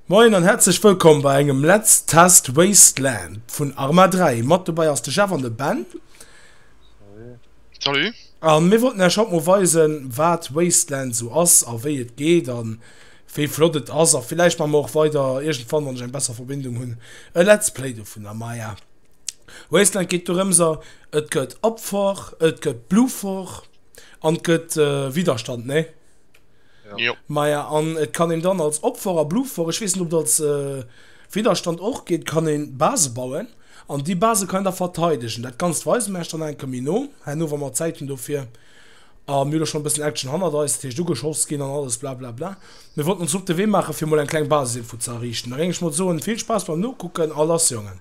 Moien an häerzlech wëllkomm bei engem Let's Test Wasteland vun Arma 3. Mat dobäi ass de Jeff an de Ben. Salut. An mir wollten Äech haut mol weisen, wat Wasteland esou ass a wéi et geet an wéi flott et ass. A villäicht maache mer och weider iergendwann, wann ech eng besser Verbindung hunn, e Let's Play dovunner. Maja. Wasteland geet dorëms a et gëtt Opfer, et gëtt Bluffer an et gëtt Widerstand, nee? Jo. Maja, an et kann een dann als Opfer a Bluffer, ech weess net ob et als Widerstand och geet, kann een Base bauen an déi Base kann een da verteidegen. Dat Ganzt weise mir iech dann eng Kéier méi no herno, wa mer Zäit hunn dofir. A mir hu jo schonn e bëssen Action hannert eis, dat heescht ugeschoss ginn an alles blablabla. Mir wollten ons op de Wee maachen, fir mol eng kleng Basisinfo ze erriichten. Da géing ech mol soen, vill Spaass beim Nokucken a lass Jongen!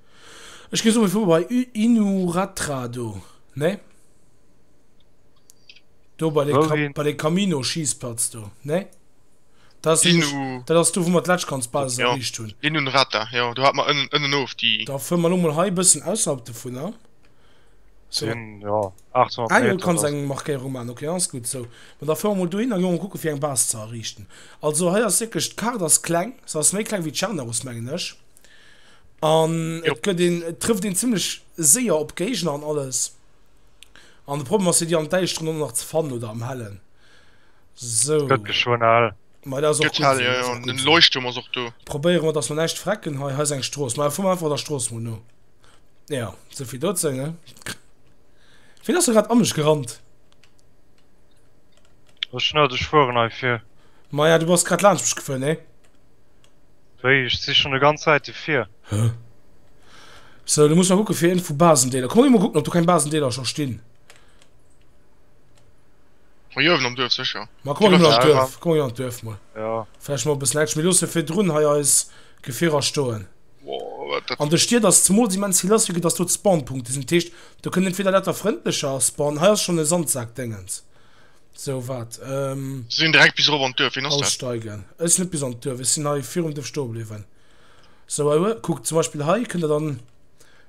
Ech gi souwisou bei I, Inuratra do, ne? Do bei de Wouhin? bei de Camino Schiessplatz do, ne? Dat ass nämlech, Inu, dat ass do wou mer d'Letschkranzbasis Ja. erreecht hunn. Inunrata, jo, do hat mer ënnen, ënnenof déi. Da fuere mer elo mol hei e bëssen ausserhalb dovunner. So, Sinn, jo, 800 ah jo, du Meter, kanns dat ass. eng Markéierung maachen, ok, dann ass gutt esou. Mä da fuere mer mol dohinner, gi mer mol kucke fir eng Base ze erriichten. Also hei ass wierklech, d'Kaart ass kleng, se ass méi kleng wéi d'Charnerus mengen ech. An et gëtt een, et trëfft een zimlech séier op Géigner an alles. An de Problem ass jo déi an der Däischteren och nach ze fannen oder am Hellen. Sou. Gëtt geschwënn hell. Mei dat ass och Gëtt gutt hell, esou, jo, dat ass jo, och an gutt den esou. Leuchtturm ass och do. Probéiere mer dass mer näischt verrecken hei. Hei ass eng Strooss. Mei fuere mer einfach der Strooss mol no. Jo, sou vill dozou, ne? Wien ass do grad an mech gerannt? Ech net, ech fueren hei vir. Maja, du bass grad laanscht mech gefuer, ne? Wéi? Ech si schonn e ganz Säite vir. Hä? Sou, da muss mer kucke fir een vu Basendeeler. Komm mir mol kucken, ob do keng Basendeeler scho stinn. Hei uewen am Duerf sécher. Ma kucken mir an d'Duerf, kucken mir an d'Duerf mol. Jo. Vläicht mol e bëssen Action. Mir loosse virdrun hei eis Gefierer stoen. Wow, wat dat. An de Stied ass zemools immens vill lass, vue que dass do d'Spawnpunkte sinn. Dat heescht, do kënnt entweder dat da frëndlecher spawnen. Hei ass schonn e Sandsak-Déngens. So wat ehm. Si sinn direkt bis erof an d'Duerf. Ween ass dat? Aussteigen. Ech sinn net bis an d'Duerf, ech sinn hei virum Duerf stoe bliwwen. So ue, kuckt zum Beispill hei kënnt der dann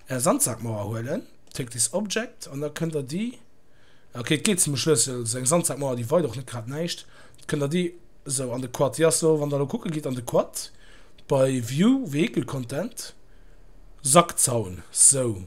är Sandsackmauer huelen, take this object, an da kënnt der déi, ok et geet zum Schlëssel, seng Sandsackmauer déi weit och net grad näischt, kënnt der déi esou an de Quad, déi ass do, wann der elo kucke gitt an de Quad bei view vehicle content, Sackzaun, sou.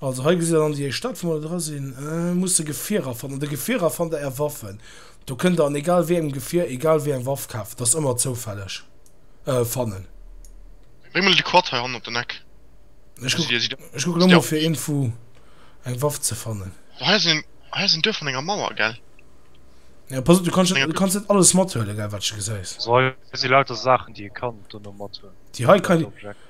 Also hei gesitt der dann déi éischt Stadt wou mer dra sinn. Musst de Gefierer fannen. An de Gefierer fannt der är Waffen. Do kënnt der an egal wéi engem Gefier egal wéi eng Waff kafen. Dat ass ëmmer zoufälleg. Fannen. Bréng mol de Quad hei hannen op den Eck. Ech kucken ech kucken elo mol fir een vu eng Waff ze fannen. Oh hei ass een hei ass een Duerf an enger Mauer gell. Jo pass op du kanns net du kanns net alles mathuelen gell wat s de gesäis. Also hei si lauter Saachen déi ee kann dono mathuelen. Déi hei kann een.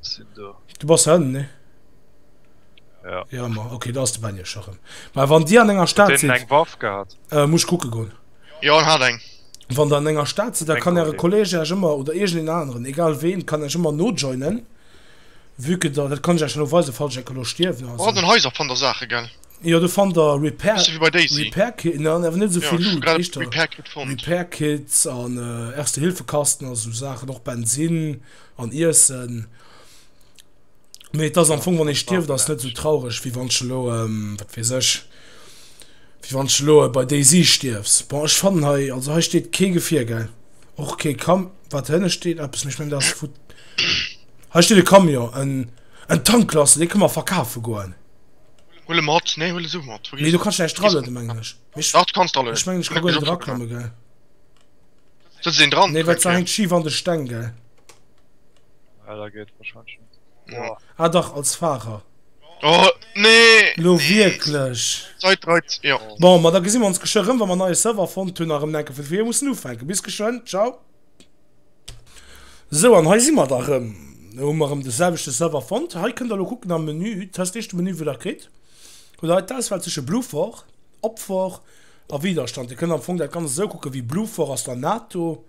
sinn do. Du bass hënn, ne? Ja. Ja, ma, okay, da ass de Benny scho rëm. Ma wann Dir an enger Stad sidd. Huet deen eng Waff gehat? Äh, muss ech kucke goen. Jo, en hat eng. Wann der an enger Stad sidd, da kann Äre Kolleeg Äech ëmmer, oder iergendeen aneren, egal ween, kann Äech ëmmer nojoinen. Vue que der, dat kann ech Äech elo weisen, falls ech enke elo stierwen oder esou. An den Haiser fannt der Saache, gell? Jo, do fannt der Repair. Bësse wéi bei Daisy. Repair Kit, na, awer net esou vill Loot. Jo, ech hu grad e Repair Kit fonnt. Repair Kits an Erste-Hilfe-Kasten a sou Saachen, och Bensinn. An iessen. Mee et ass am Fong, wann ee stierft, ass et net esou traureg, wéi wann s de elo, wat weess ech, wéi wann s de elo bei DayZ stierfs. Bon, ech fannen hei, also hei steet kee Gefier, gell? Och kee Kam. Wat hënne steet eppes, mee ech mengen dat ass vu. Hei steet e Camion, en, en Tanklaster, dee kënne mer verkafe goen. Huel e mat, nee, huel e sou mat. Mee do kann ech näischt dralueden, mengen ech. Mee ech. Dach, du kanns dralueden. Ech mengen, ech ka guer net eraklamme, gell? Sëtzt een dran? Nee, well se hänkt schif an de Steng, gell? Ah, da geet et wahrscheinlech net. Boah. Ah dach, als Fahrer. Oh, nee! Lo wierklech? D'Zait reit, jo. Bon, ma da gesi mer ons geschwë rëm, wa mer neie Server fonnt hunn, a rëm enke vun vir mussen ufänken. Bis geschwënn, ciao! Sou, an hei si mer da rëm. Lo hu mer rëm de selwechte Server fonnt. Hei kënnt der elo kucken am Menü, test, éischte Menü, wou der kritt hutt der hei d'Auswahl zwësche Bluefort, Opfort, A Widerstand. Dir kënnt am Fong dat Ganzt esou kucken wéi Bluffer ass dann NATO,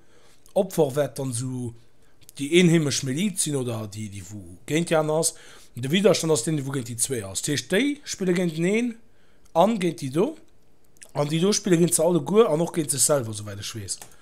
Opfer wäert dann esou déi eenheemesch Miliz sinn oder déi déi wou géint déi aner ass. An de Widerstand ass deen dee wou géint déi zwee ass. Dat heescht déi spille géinteneen an géint déi do an déi do spille géint se alleguer an och géint sech selwer esouwäit ech weess.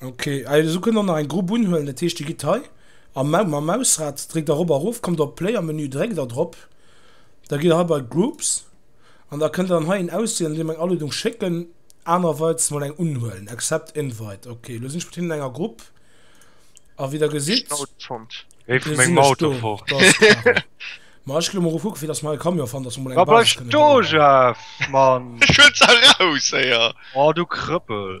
Ok ah jo sou kënnt och nach eng Grupp unhuelen, dat heescht dir gitt hei am Mau mam Mausrad, dréckt da rob a rof, kommt op Player Menü, dréckt da drop, da gitt der hei bei Groups an da kënnt der dann hei een auswielen an deem eng Aluedung schécken, anerweits mol eng unhuelen, Accept Invite, ok lo sinn ech mat hinnen an enger Grupp a wéi der gesitt, Géif vun mengem Auto fort. Ma ech ginn elo mol erof kucke fir datt mer hei e Camion fannen, datt mer mol eng Basis kënnen bauen. Ech huelen se eraus héier! Oh du Krëppel!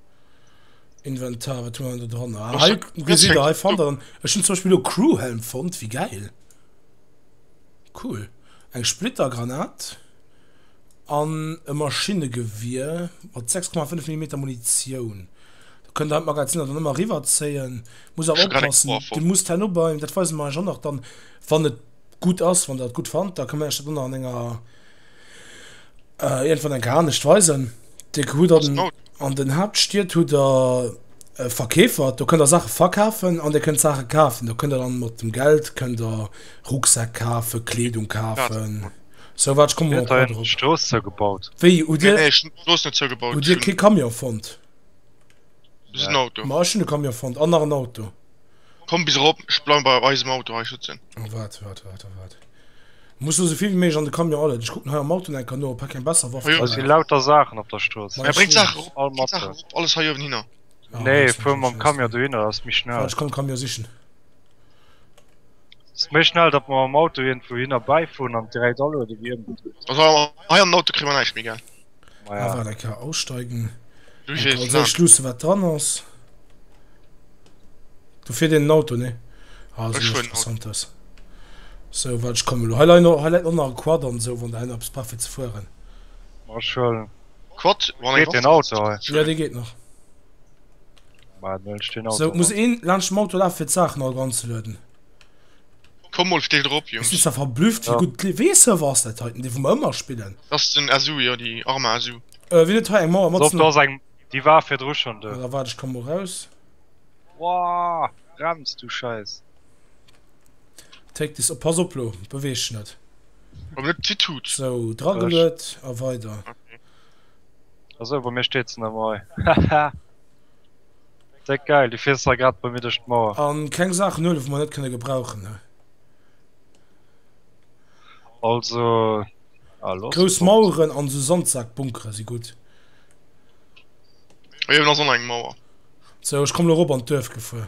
Inventar, wat hu mer do dran? Ah, hei, Gesider, hei fand er. Ech hun zum Beispiel lo Crewhelm fond, wéi geil. Cool. Eng Splittergranat. An e Maschinnegewier mat 6,5 Millimeter Munitioun. Da kënnt der d'Magaziner dann ëmmer riwwerzéien. Muss awer oppassen, dir musst herno beim, dat weise mer iech och nach dann, wann et gutt ass, wann der et gutt fannt, da ka mer iech dat och nach an enger. Äh, irgendwann enker anescht weisen. Dir hutt an, an den Hauptstied hutt der äh, Verkäfer, do kënnt der Sache verkafen an dir kënnt Sache kafen. Do kënnt der dann mat dem Geld kënnt der Rucksäck kafe, Kleedung kafen. So wat kom op Strooss zou gebaut. Wéi hu dir Strooss net zou gebaut? Hu dir kee Camion fonnt? Auto Ma ech hunn e Camion fonnt an nach en Auto. Komm bis erop, ech bleiwen bei eisem Auto hei schützen. Oh wart, wart, wart, oh wart. Muss lo souvill wéi méiglech an de Camion allen. Ech kucken hei am Autolenker no, ob hei keng besser Waff dran ass. Hei sinn lauter Saachen op der Strooss. Mä bréngt d'Saachen erop, bréngt d'Saachen erop, alles hei uewen hinner. Nee, fuer mam Camion dohinner, dat ass méi schnell. Wart, ech komm de Camion sichen. Ass méi schnell, datt mer mam Auto iergendwou hinner bäifueren an direkt alueden, wéi ëmgedréint. Also hei an den Auto kréie mer näischt méi, gell? Maja. Awer da ka aussteigen. Du gees lang. Also ich lusse wat dran ass. Du fir den Auto ne ah, so interessant ass so wat ich komme lo heilei no heileit no nach Quad an so wann der hin abs brauch fir ze fueren. Ma schon Quad wann den Auto hei. Ja de geet nach. Ma den Auto. So muss een laanscht dem Auto laf fir d'Saachen all dran ze lueden. Komm mol still drop Jungs. Ech si zwar verblüfft wéi gutt de Wee-Server ass, dat heiten, dee wou mer ëmmer spillen. Dat ass den SU, jo, déi arm SU. Ëh, wien huet hei eng Mauer mat Sënn? Soft ass eng, déi war virdru schonn do. Da waart, ech komme mol raus. Woah, brems du Scheiss. Take this, oh pass op lo, beweeg dech net. Awer net ze tut. Sou, drageluet a weider. Esou, bei mir steet se nemol. Haha. Déck geil, du fiers zwar grad bei mir duerch d'Mauer. An keng Saachen huelen wou mer net kënne gebrauchen hei. Also ah los. Grouss Maueren an esou Sandsaakbunkere si gutt. Hei uewen ass och nach eng Mauer. Sou, ech komm lo erop an d'Duerf gefuer.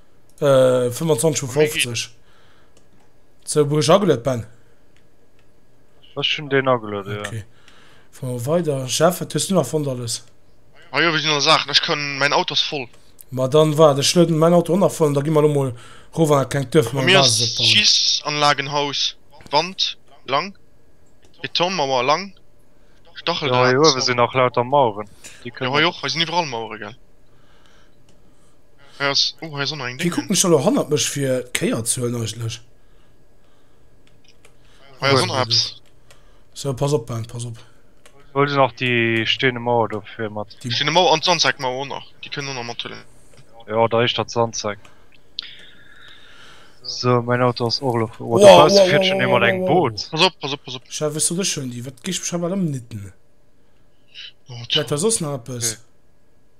25 vu 50 zou wou ech ageluet ben Ech hun deen ageluet ja. Okay. Fahr mer weider. Jeff, wat hues du nach fonnt alles? Ah jo, wéi sinn all Saachen? Ech kann, mäin Auto ass voll. Ma dann waard, ech lueden mäin Auto och nach voll an da gi mer elo mol rof an dat klengt Duerf Bei mir ass Basis opbauen. Schiessanlagenhaus, Wand, lang, Betonmauer, lang, Stacheldraht, Jo, hei uewe sinn nach lauter Maueren. Déi Jo, kënnen. hei och, hei sinn iwwerall Mauere, gell. Hie kuckt mech elo hannert mech fir d'Kéierzuelen eigentlech. Sou pass op Ben, pass op. Huel du nach déi steene Mauer do fir mat. Déi steene Mauer an d'Sandsäckmauer och nach, déi kënnen och nach mathuelen. Jo da éischter d'Sandsäck. Sou mäin Auto ass och elo fou. Oh do bausse fiert schonn ee mat engem Boot. Pass op, pass op, pass op. Chef ech soot ech hunn déi. Wat géif mech awer ëmnidden. Huet dat soss nach eppes?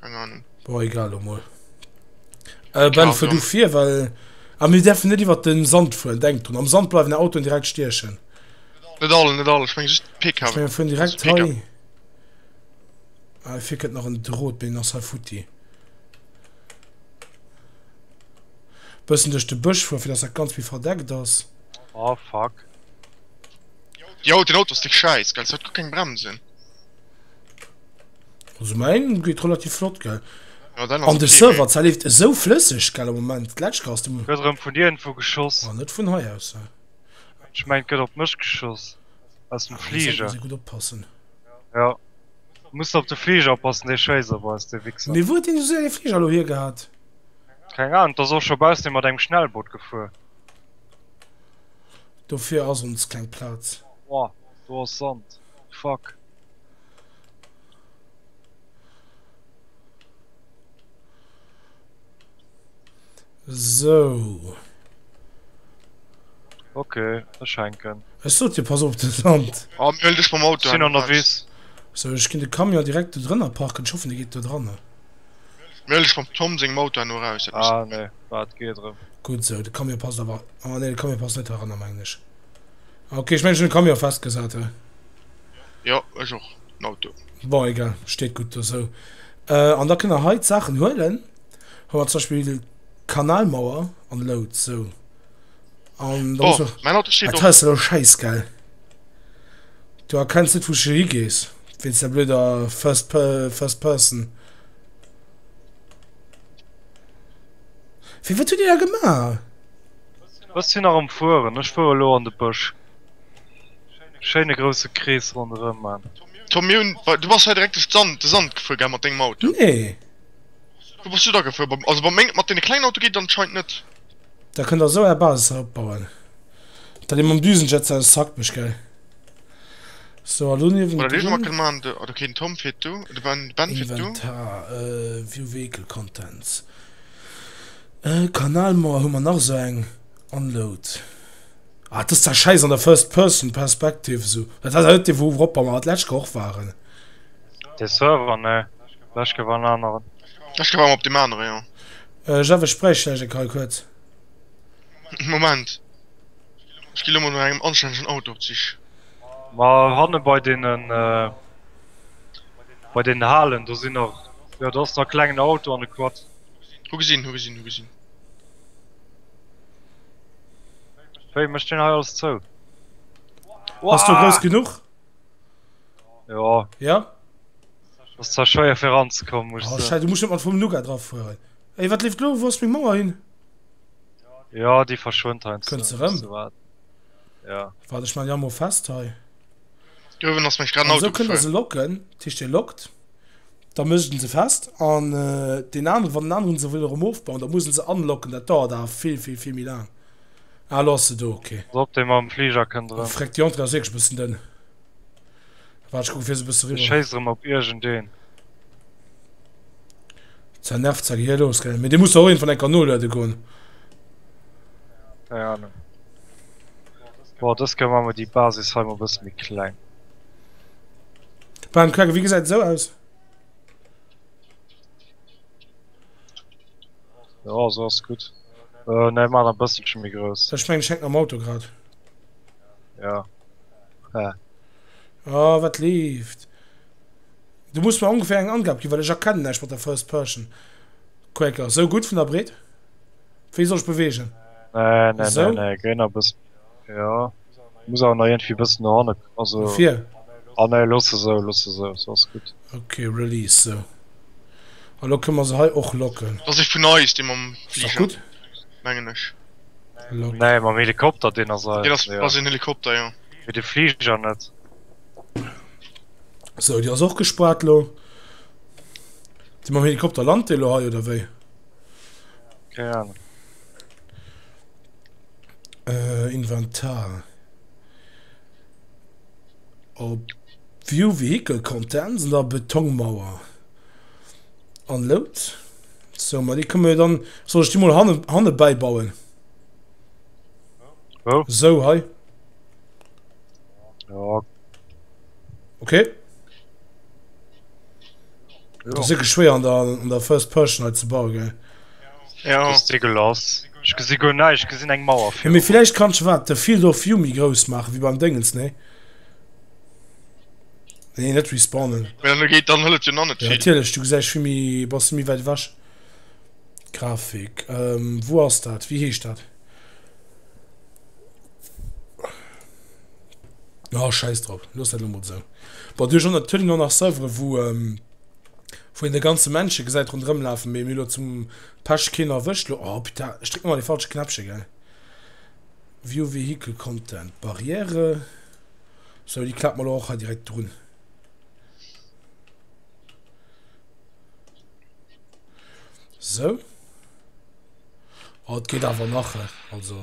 Keine Ahnung. Bon, egal lo mol. Äh, Ben, fuer du vir, well. Ah, mir däerfen net iwwert den Sand fueren, denk drun. Am Sand bleiwen är Autoen direkt stiechen. Net all, net all, ech meng just d'PKWen. Ech meng, mir fueren direkt hei. Ah, fir kënnt nach en Drot, mee deen ass hei futti. Bëssen duerch de Bësch fueren, fir dass dat Ganzt méi verdeckt ass. Oh, fuck. Jo, den Auto ass dee Schäiss, gell, se huet guer keng Bremsen. Also mein geht relativ flott ge an de Server zerleeft esou flësseg gell am Moment Letschke ass dem Gëtt vun dir vu geschoss war net vun hei aus Ech mengt gëtt op mech geschoss aus dem Fliger gut oppassen Ja muss op de Fliger oppassen dee schéisst op eis de Wixer Mee wou den du se Fliger lo hier gehat? Keng Ahnung dass och scho baus dee mat engem Schnellboot gefuer Dofir ass ons keng Platz. Wow do ass Sand fuck. So. Okay, das schenken. Es sollt dir pass auf das Land. Oh, mir dich vom Auto. Sind unterwegs. So, ich kann den Camion direkt da drinnen parken. Ich hoffe, der geht da dran. Mir dich vom Tom sing Auto nur raus. Ah, ne, warte, geh drin. Gut so, der Camion passt aber. Ah, ne, der Camion passt nicht daran, meine ich. Okay, ich meine, ich den Camion festgesetzt. Jo ech och den Auto. Bon egal, steet gutt do sou. An da kënnt der hei d'Saachen huelen. Hei mer zum Beispill Kanalmauer an Loud sou. An da muss mer. Mäin Auto steet och. D'Haus ass elo schäiss gell? Du erkenns net wou s du higees wéinst der blöder first first person. Fir wat huet dir da gemaach? Ech sinn nach am fueren, ech fuere lo an de Bësch. schéine grousse Krees ronderëm man. Tom mir hunn, bei, du bass hei direkt duerch d'Sand, de Sand gefuer gell mat dengem Auto? Nee. Wou bass du da gefuer? Beim, also bei meng, mat deene klengen Auto geet et anscheinend net. Da kënnt der esou är Basis hei opbauen. Da lee mam Düsenjet se aus Zack mech gell. Sou a lo niewendrun. Oder Leescht emol kënne man de, oder keen Tom fir du, de Ben, Ben fir du. Inventar, view vehicle contents, Kanalmauer hu mer nach esou eng. Unload. Ah, et ass zwar schäiss an der First Person Perspective esou. Dat ass awer net dee wou wrop mer mer d'lescht Woch och waren. Dee Server, nee, lech gouf an aneren. Ech gouf awer op deem anere, jo. Äh, Jeff, ech bräicht vläicht eng Kei kuerz. Moment, ech gi lo mol no engem anstännegen Auto op d'Sich. Ma hanne bei deenen, bei deenen Halen, do sinn nach, jo, do ass nach e klengen Auto an e Quad. Hu gesinn, hu gesinn, hu gesinn. Wéi mecht den hei alles zou? Ass du grouss genuch? Jo. Ja? Ass zwar schwéier fir ranzekommen, muss Oh, scheiße, du musst net mat vum Nougat drauf fueren. Ey, wat leeft lo? Wou ass meng Mauer hin? Ja, déi verschwënnt heiansdo. Kënnt se rëm? Ja. Waart, ech man déi amo fest hei. Duerwen ass mech grad en Auto gefall. Esou kënnt der se locken, dat heescht, dir lockt. Da mécht en se fest an deen aneren, wann deen aneren se wëll erëm ofbauen, da muss en se unlocken, dat dauert awer vill, vill, vill méi laang. Ah, elo ass se do, ok. Drop dee mam Fliger kënnt erëm. Fréck, déi Entrée ass wierklech e bëssen dënn. Waart, ech kucke fir se e bësse riwwer. Ech schéisse erëm op iergendeen. Sa nervt sa gehirlos, gell? Mee dee muss der och iergendwann eng Kéier noluede goen. Keng Ahnung. Bon, dës Kéier maache mer déi Basis hei mol e bësse méi kleng. Beim Cracken, wéi gesäit et esou aus? Jo esou ass gutt. Nee maan e bësselchen méi grouss. Ech mengen ech hänken am Auto grad. Jo he. Oh wat leeft. Du muss mer ongeféier eng Angab ginn, well ech erkennen näischt mat der First Person Quaker. Esou gutt vun der Breet? Wéi soll ech beweegen? Nee nee nee, gei nach e bëssen méi. Jo. muss awer nach irgendwie bëssen no hanne, also No vir? ah nee, loosse esou, loosse esou, sou ass gutt. Ok, release, sou. A lo kënne mer se hei och locken. Ass e vun eis, dee mam Ass dach Fliger, gutt. mengen ech. Lock. Nee, mam Helikopter, deen ass Deen eis, ass, jo. ass een Helikopter, jo. Mee de Fliger net. Sou, déi ass och gespaart lo. Déi mam Helikopter, lant dee lo hei oder wéi? Keng Ahnung. Äh, Inventar. Op View Vehicle Content sinn der Betongmauer. An Load. So, ma déi kënne mir dann, soll ech déi mol hanne, hanne bäibauen? Wou? So, hei. Ja, Okay. Das ist wirklich schwer an der, an der First Person halt zu bauen, gell? Jo. Dégueulass. Ech gesi guer näischt, ech gesinn eng Mauer virun Mee villäicht kanns de wat, de Field of View méi grouss maachen, wéi beim Déngens, nee? Nee, nee, net respawnen. Well elo geet, dann hëlt et jo nach net Jo, vill. natierlech, du gesäis vill méi, bass du méi wäit ewech. Grafik, wou ass dat, wéi heescht dat? Jo, schäiss drop, looss dat elo mol esou. Bon, du hues och natierlech nach nach Serveren, wou. wou een de ganze Männche gesäit ronderëm lafen, mee mir elo zum Pech keen erwëscht lo. Oh puta, ech drécken ëmmer dee falsche Knäppche gell. View Vehicle Content, Barriere, sou déi klappen mer lo och hei direkt drun. Sou, oh et geet awer nach he, also.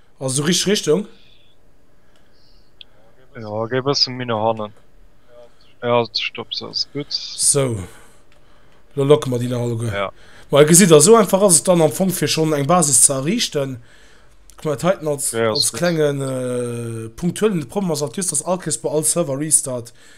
Also sou richteg Richtung? Jo, géi bëssen méi no hannen. Jo, stopp, sou ass gutt. Sou, lo locke mer déi nach alleguer. Jo. Well gesitt der, sou einfach ass et dann am Fong fir schonn eng Basis ze erriichten. Kuck mer dat heiten als, als klengen punktuellen Problem ass alt just, dass all Kéiers bei all Server-Restart,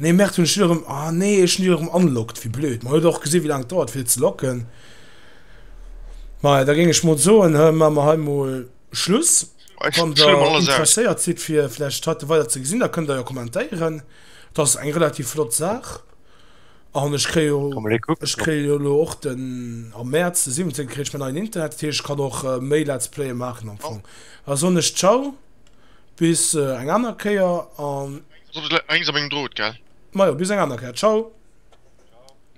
Nee Merd hunn ech déi erëm, ah nee ech hunn déi erëm unlocked, wéi blöd, mer huet och gesinn wéi laang et dauert fir et ze locken. Maja da géing ech mol soen hei maa mer hei mol Schluss. Wann der interesséiert sidd fir vläicht heite weider ze gesinn da kënnt der jo kommentéieren, et ass eng relativ flott Saach an ech kréie jo, ech kréie jo elo och den, am Mäerz de 17 kritt ech mäin neien Internet, dat heescht ech kann och méi Let's Playe maachen am Fong. Da soen ech Ciao. Bis eng aner Kéier an. Lénks op engem Drot, gell? Majo, bis eng aner Kéier. Ciao.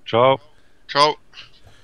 Ciao. Ciao.